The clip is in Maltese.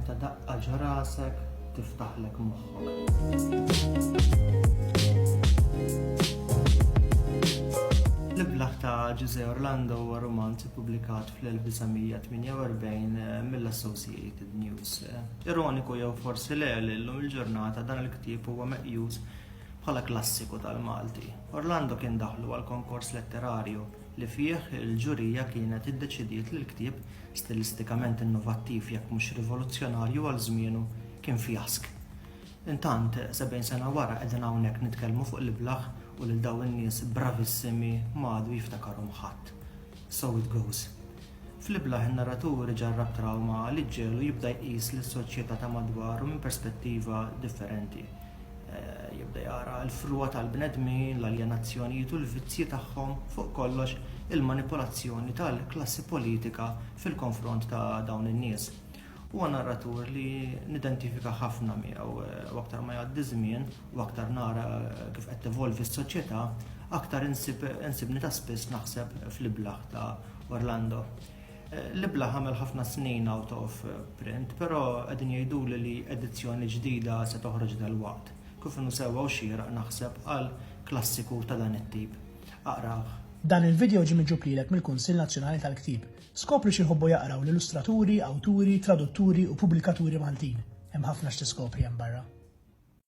Ta' daqqa ġrasek tiftaħlek moħħok. L-Iblah ta' Ġużè Orlando huwa rumanz ippubblikat fl-1948 eh, mill-Associated News. Eh, ironiku jew forsi le li llum il-ġurnata dan il-ktieb huwa meqjus bħala klassiku tal-Malti. Orlando kien daħlu għal konkors letterarju li fih il-ġurija kienet iddeċidiet li l-ktieb, stilistikament innovattiv jekk mhux rivoluzzjonarju għal żmienu, kien fjask. Intant, sebgħin sena wara qegħdin hawnhekk nitkellmu fuq l-iblah u lil dawn in-nies bravissimi ma għadu jiftakarhom ħadd. So it goes. Fl-iblah in-narratur iġarrab trawma li ġġegħlu jibda jqis lis-soċjetà ta' madwaru minn perspettiva differenti. Jibda jara l-frugħa tal-bnedmin, l-aljenazzjonijiet u l-vizzji tagħhom, fuq kollox il-manipolazzjoni tal-klassi politika fil-konfront ta' dawn in-nies. Huwa narratur li nidentifika ħafna miegħu u aktar ma jgħaddi żmien u aktar nara kif qed tevolvi s-soċjetà, aktar insibni ta' spiss naħseb fl-Iblah ta' Orlando. L-Iblah għamel ħafna snin out of print, però qegħdin jgħiduli li edizzjoni ġdida se toħroġ dalwaqt. Kif inhu sewwa u xieraq naħseb għal klassiku ta' dan it-tip. Aqrah. Dan il-video ġie miġjub lilek mill-Kunsill Nazzjonali tal-Ktieb, Skopri x'jħobbu jaqraw l-illustraturi, awturi, tradutturi u pubblikaturi Maltin. Hemm ħafna x'tiskopri hemm barra.